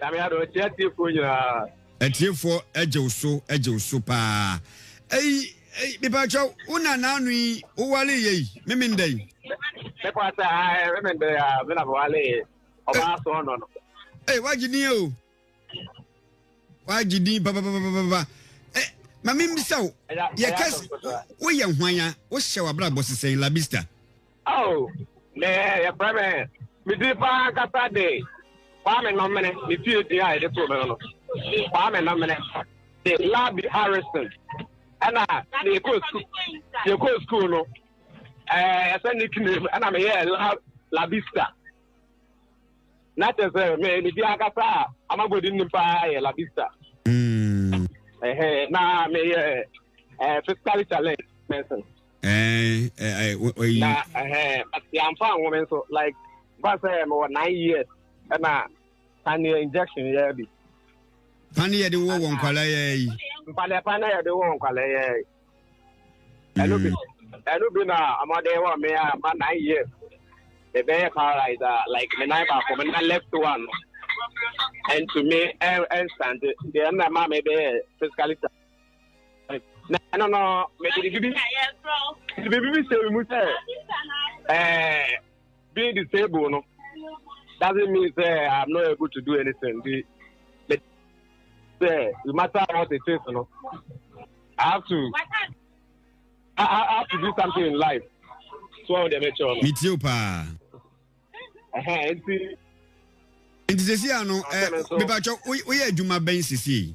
Nyame adom nti atiefoɔ nyinaa. Atiefoɔ agye wo so agye wo so paa ei ei mepatwɛ wo nana ano yi wo wale yɛ yi memenda yi. Mepatwɛ ae memenda yi a me na mewale yɛ ɔbaa eh. so ɔnɔ no. Ee wagye din o wagye din papapapapa eh, ma memmisa wo yɛka woyɛ hwan a wohyɛ w'abrabɔ sesɛn labista. Oh me yɛfrɛ me me din paa ankasa de Kwame Nomene me fie din a yɛde too me no no Kwame Nomene de Labi Harrison ɛna na yɛkɔɔ sukuu yɛkɔɔ sukuu no ɛɛ yɛsɛ nickname ɛna meyɛ la Labista na kyerɛ sɛ me me din ankasa a amabɔdi nim paa yɛ Labista mm. ɛhɛ na meyɛ ɛɛ physically challenged person. na yɛamfa anwo me nso like ba sɛ mewɔ nine years ɛna paneɛ injection yɛ bi pane yɛde wɔ wɔ nkwalaa yɛ yi mpaneɛ pane yɛde wɔ wɔ nkwalaa yɛ yi ɛno bi ɛno bi na ɔmɔden wɔ me a ma nine years ɛbɛyɛ paralyze a like me nan baako me nan left one ɛntumi ɛnsante deɛ ɛna ma me bɛyɛ physically na ɛno no mede biribi mede biribi bi sɛ mu sɛ ɛɛ being disabled no doesn't mean sɛ i'm not able to do anything bi sɛ no matter what it is no i have to i, I have to do something in life so ɔn deɛ mɛkyɛ ɔno. mi ti o paa. ɛhɛn nti. nti sisi ano ɛ bíbá kyɛw woyɛ adwuma bɛn sisi.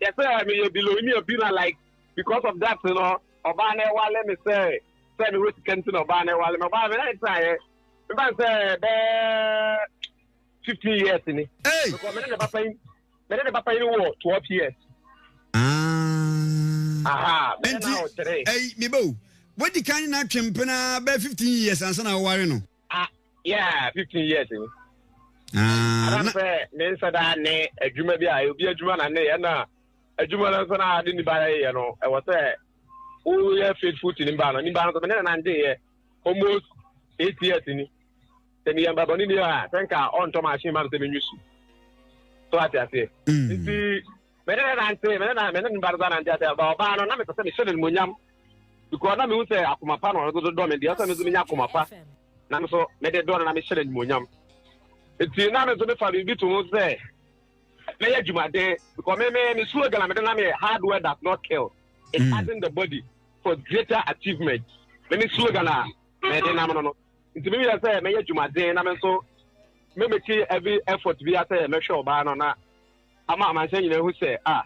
Kyerɛ sɛ meyɛ bilɔnia bi na like because of that no ɔbaa no ɛwale me sɛ sɛ mewɔ sika nti na ɔbaa no ɛwale me ɔbaa me na ɛtraeɛ meba n sɛ bɛɛ 15 years ni because mene ne ba panyin mene ne ba panyin wɔ 12 years ah. aha mene na ɔkyerɛ ɛyi mebɛ o wadi kan na atwe mpena bɛɛ 15 years ansa na ɔware no Ah, yeah, fifteen years ni. Ah, Ana sɛ ne nsa da ne adwuma bi a obi adwuma na ne yɛ na adwuma no nso na ade ne ba yɛ no ɛwɔ sɛ woyɛ faithful to ne ba no ne ba no nso mene na nante yɛ almost eight years ni sɛ meyɛ mbabɔne ni a sɛ nka ɔntɔ machine ma no sɛ menwi su so ate aseɛ nti Me ne no nante, me ne na me ne ne ba no ba nante ase. Ba ɔbaa no, na mepɛ sɛ mehyɛ no animuonyam. Because na mehu sɛ akoma pa na ɔno nso dɔ me deɛ, sɛ me nso menya akoma pa. Na me nso mede dɔ no na mehyɛ no animuonyam. Nti na me nso mefa biribi to ho sɛ mɛyɛ adwumaden. Because me me me slogan a mede nam yɛ hard work does not kill. It mm. harden the body for greater achievement. Me me slogan a mede nam no no. Nti me yɛ sɛ mɛyɛ adwumaden na me nso mɛmɛkyi every effort bi asɛ mɛhwɛ ɔbaa no na ama amansan nyinaa ahu sɛ a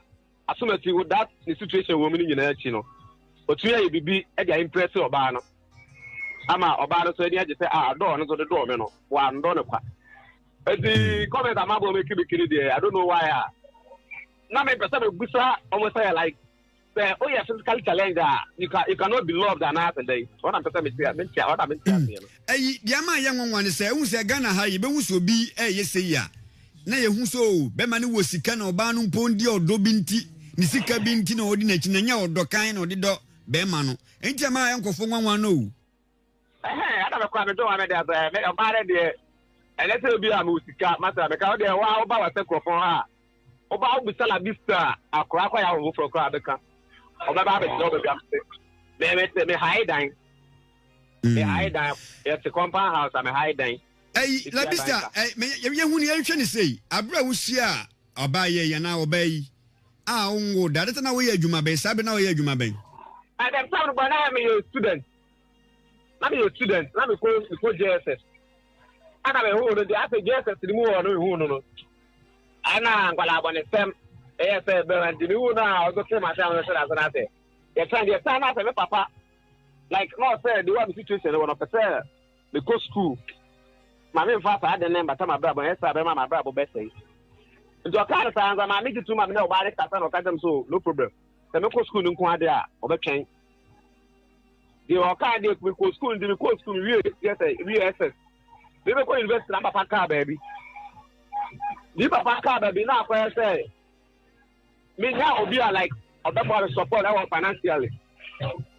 Asomasi wo that ne situation wɔ mu no nyinaa akyi no otumi ayɛ biribi de aimprɛse ɔbaa no ama ɔbaa no so ani agye sɛ a adɔɔ no so de dɔɔ me no wɔandɔ no kwa ɛti hmm. comment ama bɔ mekibikiri deɛ I don't know why a na mepɛ sɛ mebusa ɔmo sɛ like Sɛ woyɛ physically challenged a, you can you cannot be loved anaa sɛ dɛn? Wɔn na mpɛ sɛ mete mente a, wɔn na mente aseɛ no. Ɛyi deɛ ama ayɛ nwanwa ne sɛ ehu sɛ Ghana ha yɛbɛhu sɛ obi ɛyɛ sei a na yɛhu sɛ oo bɛma no wɔ sika na ɔbaa no mpo deɛ ɔdɔ bi nti ne sika bi nti na ɔdi n'akyi na nyɛ ɔdɔ kann na ɔde dɔ bɛma no ɛnti ama ayɛ nkɔfo nwanwa no oo. Ɛhɛn ɛna me kɔ a me dɔ maame deɛ sɛ me ɔbaa no deɛ ɛnɛ sɛ obi a me wɔ sika ma sɛ me ka wo deɛ wo a wo ba wɔ sɛ korɔfɔn ha a wo ba wo bisa la bisa akora kɔ ya wo foforɔ kora bɛ ka ɔbɛ ba bɛ kyerɛ ɔbɛ bi amese me me te me hae dan me mm. hae dan yɛ te compound house a me hae dan ɛyi labisa ɛyi yɛ hu ni yɛn hwɛ ni sɛ yi abira wusi a. Ɔbaa yi yɛ na ɔbaa yi a ɔnwo da adeta na woyɛ adwuma bɛn saa bɛ na ɔyɛ adwuma bɛn. At the time but na me yɛ student na me yɛ student na me ko me ko JSS ana me hu no de afɛ JSS ni mu wɔ no me hu no no ana nkwala abɔ ne sɛm ɛyɛ sɛ bɛma nti me hu no a ɔso te ma sɛ ɔno hyɛ ase na sɛ yɛ sɛ deɛ sɛ na sɛ me papa like na ɔsɛ de wa me situation wɔ no pɛ sɛ Mekɔ sukuu. Ma memfa saa ade no mmata m'abrabɔ, anyɛ saa a ɛbɛma m'abrabɔ bɛsɛe. Nti ɔkaa no saa ansa. Maame gye tom ma me ne ɔbaa no kasa na ɔka kyerɛɛ me sɛ, Oh, no problem. Sɛ mekɔ sukuu no nko ara deɛ a, ɔbɛtwɛn. Deɛ ɔkaa no deɛ, mekɔɔ sukuu no nti mekɔɔ sukuu mewie GSS, mewie SS. Mebɛkɔ university na me papa kaa baabi. Me papa kaa baabi na akɔyɛ sɛ menya obi a like ɔbɛboa me support ɛwɔ financially.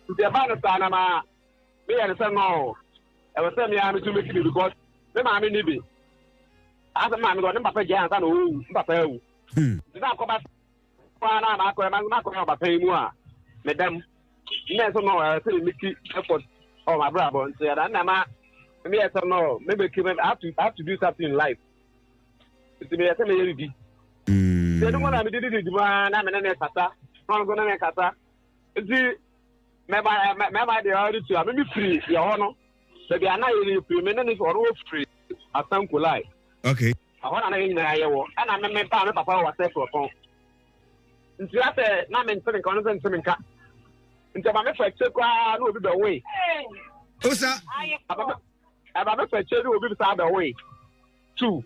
Nti ɛbaa no saa na ma Me yɛ no sɛ no o, ɛwɔ sɛ me ara me so me si bi because me maame ni bi. Asɛ me maame kɔ, ne papa gyae ansa na ɔwu, me papa awu. Hmm. Nti na akɔba paa na makɔ ɛma na akɔ ɔba pɛn mu a, me dam. Nna sɛ no ɛwɔ sɛ me ti effort ɔ m'abrabɔ nti ɛda nna ma me yɛ sɛ no me make me have to have to do something in life. Nti me yɛ sɛ me yɛ bibi. Hmm. Sɛ ɛdum na me didi didi mu na me ne ne kasa, na ɔno nso ne ne kasa. Nti mɛma mɛma deɛ ɔde tua me mefiri yɛ hɔ no baabi a na yɛfiri me ne ne ɔno wɔfiri asankolai okay ɛhɔ na na yɛ nyinaa yɛwɔ ɛna me me paa me papa wɔ asɛ kurɔpɔn nti asɛ na me ntene nka ɔno sɛ ntene nka nti ɛma mefa akyire koraa na obi bɛwoe osa ɛma mefa akyire ne obi saa bɛwoe tu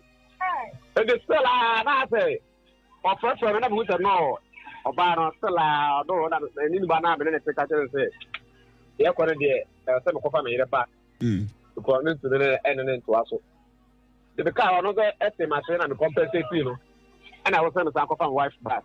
ɛdi still a na asɛ ɔfrɛfrɛ no na mehu sɛ no ɔbaa no still a ɔdo na ɛni ne ba no a mene ne te ka kyerɛ sɛ deɛ kɔ no deɛ ɛwɔ sɛ mekɔfa me yere ba mm. because ne ntumi ne ɛne ne ntoa so de mekaa ɔno sɛ ɛte m'ahyɛ na mekɔmpɛsɛ tii no ɛna ɛwɔ sɛ mesan kɔfa me wife back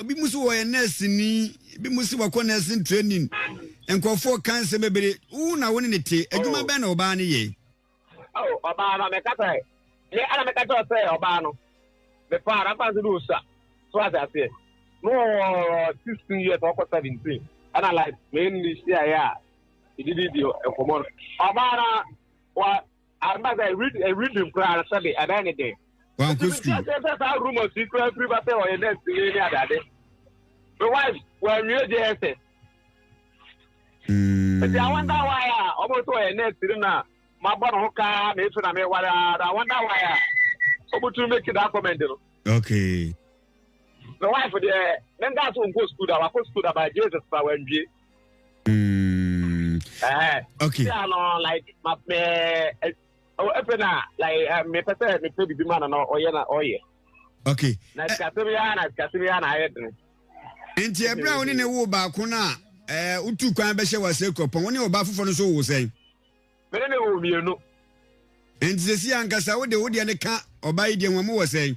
Ebi mo se wɔyɛ nurse ni, ebi mo se wɔkɔ nursing training, nkurɔfoɔ ka nsɛm bebree, wo na wo ne ne te, adwuma bɛn na ɔbaa no yɛ? Oh, ɔbaa no, meka sɛ, me ana meka kyerɛ sɛ ɔbaa no, mepaa no, afa nso de ɔsua, so ase aseɛ, no wɔ 16 years, ɔkɔ 17, ɛna like, me ne ne hyiaeɛ a, yɛdididi nkɔmmɔ no, ɔbaa no, wa, Arima sɛ read eh, reading koraa sɛbi ɛbɛn ne den. Wọn kò sukuu. Ɛsɛ sɛ saa rumors yi koraa firi ba sɛ ɔyɛ nurse yi ne adade. My wife wɔn nwie JSS. Ɛti àwọn dá wa yà ọmọ sọ ɔyɛ nurse yi na ma bɔ ne ho kaa na esu na mi wari ara àwọn dá wa yà ọmọ tún mi kí da comment no. Okay. My wife deɛ ne nda so nkɔ sukuu da wakɔ sukuu da ba JSS ba wɔn nwie. Mm. Uh, okay. Yeah, no, like my uh, oh, if na like uh, me pese me pese bibi man no oye na oye. Okay. Na sikasem ya na sikasem ya na aye den. Nti ebra woni ne wo ba ko na eh utu kwan be hye wa se kropon woni oba fofo no so wo sen. Me ne wo mienu. Nti sesi ankasa wo de wo de ne ka oba yi de ho mo wo sen.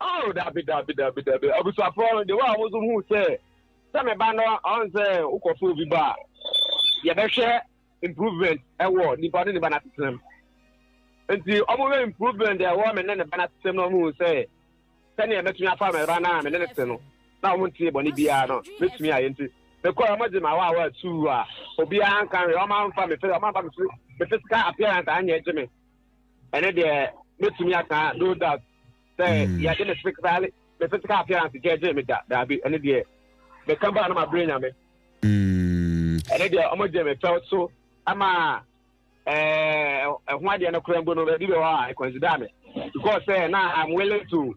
Oh, dabi, dabi, dabi, dabi. Abusuafoɔ no, de wa a wɔn nso hu sɛ sɛ me ba no ɔn sɛ wokɔ so obi ba a, yɛbɛhwɛ improvement ɛwɔ nipa ne ne ba n'asetenam. Nti wɔn hwɛ improvement ɛwɔ me ne ne ba n'asetenam na wɔn hu sɛ sɛnea mɛtumi afa me ba no a me ne ne te no na wɔn ntie bɔne biara no mɛtumi ayɛ nti mekɔ wɔn gye ma wa wa tu a obiara nka hwɛ wɔn amfa me fɛ wɔn amfa me physical appearance anyɛ gye me. ɛne deɛ mɛtumi aka no doubt sɛ hmm. yɛde me physical me physical appearance gyɛgyee me da daabi ɛne deɛ meka baa no mabrɛ nyame hmm. ɛne deɛ ɔmɔgye me fɛw so ama ɛho adeɛ no kora mbo no baabi bɛ hɔ a ɛconsider me because sɛ na I'm willing to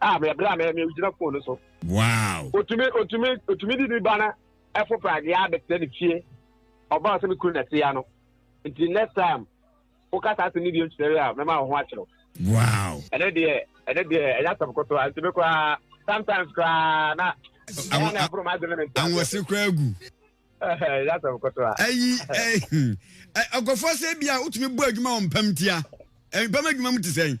Ah, me bra me me gyina phone no so. Wow. Otumi otumi otumi di ne ba na ɛfo prade a bɛtena ne fie. Ɔba ɔsɛ me kunu na ɛte ya no. Nti next time woka saa asɛm no bio nkyerɛ yɛ a mɛma wo ho akyerɛw. Wow. Ɛnɛ deɛ ɛnɛ deɛ ɛyɛ asɛm kotoa nti me koraa sometimes koraa na ɛyɛ na ɛboro m'adwene me nti. Anwɔse koraa gu. Ɛyɛ asɛm kotoa. Ayi ɛyi ɔkɔfoɔ sɛ bi a wotumi bɔ adwuma wɔ mpam tia. Mpam adwuma mu te sɛn?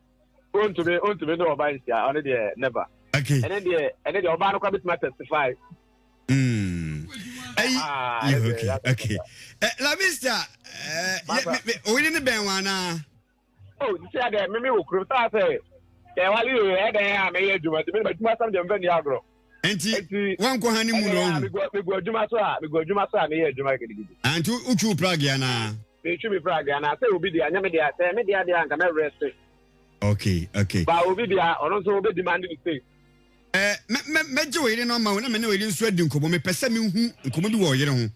ontumi ontumi ne ɔbaa nhyia ɔno deɛ never ɛne deɛ ɛne deɛ ɔbaa no kora bɛtumi atestify ɛyi ok ok lamista ɔyere ne bɛn wa anaa oh sisi adɛ mimi wɔ kurom saa sɛ sɛ wale yɛ yɛ dɛn a mɛyɛ adwuma nti mimi adwuma sɛm deɛ mfɛ ni agorɔ nti wankɔ ha ne mu na ɔhu megu adwuma so a megu adwuma so a meyɛ adwuma gidigidi anti wotwiw prague anaa Metwi me bra deɛ anaa sɛ obi deɛ anyɛ me deɛ a sɛ ɛyɛ me deɛ adeɛ a nka mɛ rest it. Okay okay. Ba obi deɛ a ɔno nso ɔbɛ demand ne space. Eh, mɛ mɛ mɛgye ɔyere no ama wo na me ne ɔyere nso adi nkɔmmɔ mepɛ sɛ me hu nkɔmmɔ bi wɔ ɔyere ho.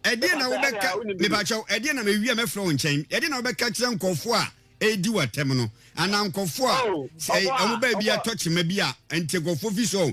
Ɛdeɛn na wobɛka, mepakyɛw, ɛdeɛn na mewie a mɛfrɛ wo nkyɛn, ɛdeɛn na wobɛka kyerɛ nkɔfoɔ a ɛredi wo atɛm no anaa nkɔfoɔ a sɛ wɔn baabi a ɛtɔ kyema bi a nti nkɔfoɔ fi so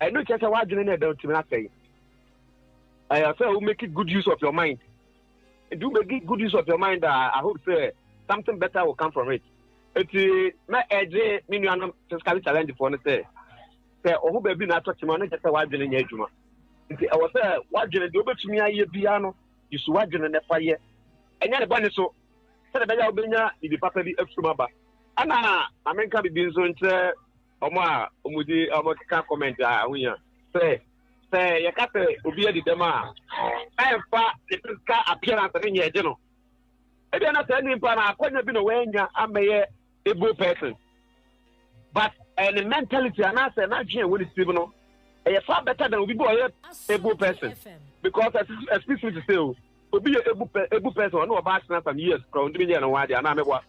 ɛno kyerɛ sɛ w'adwene no ɛda ntumi asɛe ɛyɛ sɛ wo make good use of your mind nti wo make good use of your mind a i hope sɛ something better will come from it nti mɛ ɛgye me nuanom physically challenge foɔ no sɛ sɛ ɔho baabi na atɔ kyema no kyɛ sɛ w'adwene nyɛ adwuma nti ɛwɔ sɛ w'adwene deɛ wobɛtumi ayɛ biara no yesu w'adwene no ɛfa yɛ ɛnyɛ ne bɔne so sɛdeɛ ɛbɛyɛ a wobɛnya biribi papa bi afirim aba ɛna ma menka biribi nso nkyerɛ Ɔmo a ɔmo di ɔmo keka comment a ɛho hia sɛ sɛ yɛka sɛ obi adi dɛm a ɛnfa ne physical appearance ne nyɛ gye no ebia na saa nipa no akɔnya bi na wanya amɛyɛ able person but ɛyɛ ne mentality anaasɛ n'adwene ɛwɔ ne tirim no ɛyɛ far better than obi bi ɔyɛ able person because excuse me to say o obi yɛ able person ɔno ɔba asena some years kora ɔntumi nyɛ ne ho adeɛ anaa mɛboa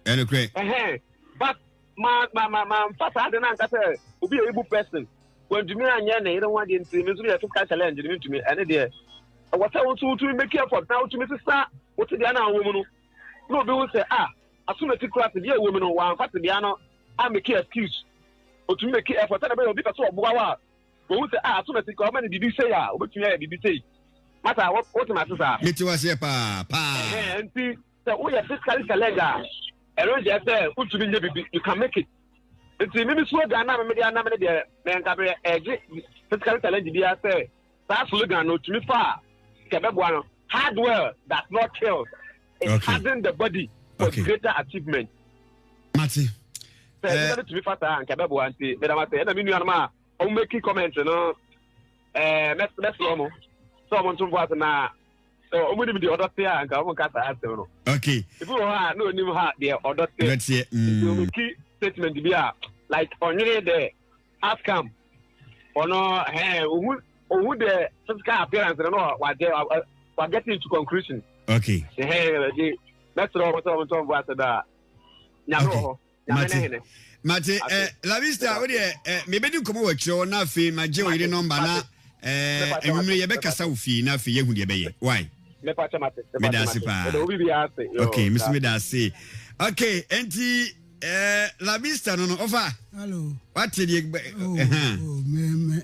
ɛne korɛ. Ɛhɛn but ma ma ma ma nfa saa de na nka sɛ obi yɛ ibu person wɔntumi anyɛ ne yere ho adeɛ nti mi nso mi yɛ physical challenge ne mi ntumi ɛne deɛ ɛwɔ sɛ wotu wotumi make effort na wotumi sisa wote deɛ na wɔn mu no na obi ho sɛ a ah, asomati kura te deɛ ɛwɔ mu no wɔanfa te deɛ no a make excuse otumi make effort sɛ na bɛyɛ obi pɛ sɛ ɔboa wa wɔn ho sɛ a ah, asomati kura ɔma ne bibi sei a obetumi ayɛ bibi sei mata wɔte ma ase saa. mi ti wa seɛ paa paa. ɛhɛn nti. Sɛ woyɛ physically challenged a, ɛno nkyerɛ sɛ wotumi nyɛ biribi. You can make it. Nti mimi slogan na mimi de anam ne deɛ mɛ nka bɛ ɛgye physically challenged bi asɛ saa slogan no tumi fa a kɛ bɛboa no. Hardware does not kill. It okay. harden the body for okay. greater achievement. Mate. Sɛ ɛbi na tumi fa saa nka bɛboa nti mɛdam asɛ ɛna mi nuanom a wɔn mɛki comment no ɛɛ mɛsrɛ mo sɛ wɔn ntomfo ase na. So wɔn nim deɛ ɔdɔ te a nka wɔn nka saa asɛm no. Okay. Ebi wɔ hɔ a na onim ha deɛ ɔdɔ te. Ɔdɔ teɛ. Mm. Nti wɔn ki statement bi a like ɔnwene dɛ outcome ɔno hɛn ohun ohun dɛ physical appearance no na wagye wa get into conclusion. Okay. Hɛn ɛdi mɛsirɛ wɔn sɛ wɔn ntɔn bu ase da nyame wɔ hɔ. mate mate ɛ eh, lavista wo deɛ ɛ mebɛdi nkɔmɔ wɔ akyirɛ hɔ na afei magye wo yere nɔmba na ɛ anwummerɛ yɛbɛkasa wo fie na afei yɛhu deɛ bɛyɛ wai meda ase paa ok mesi meda ase ok enti ɛ eh, lavista no no ɔfa wate deɛ ɛhan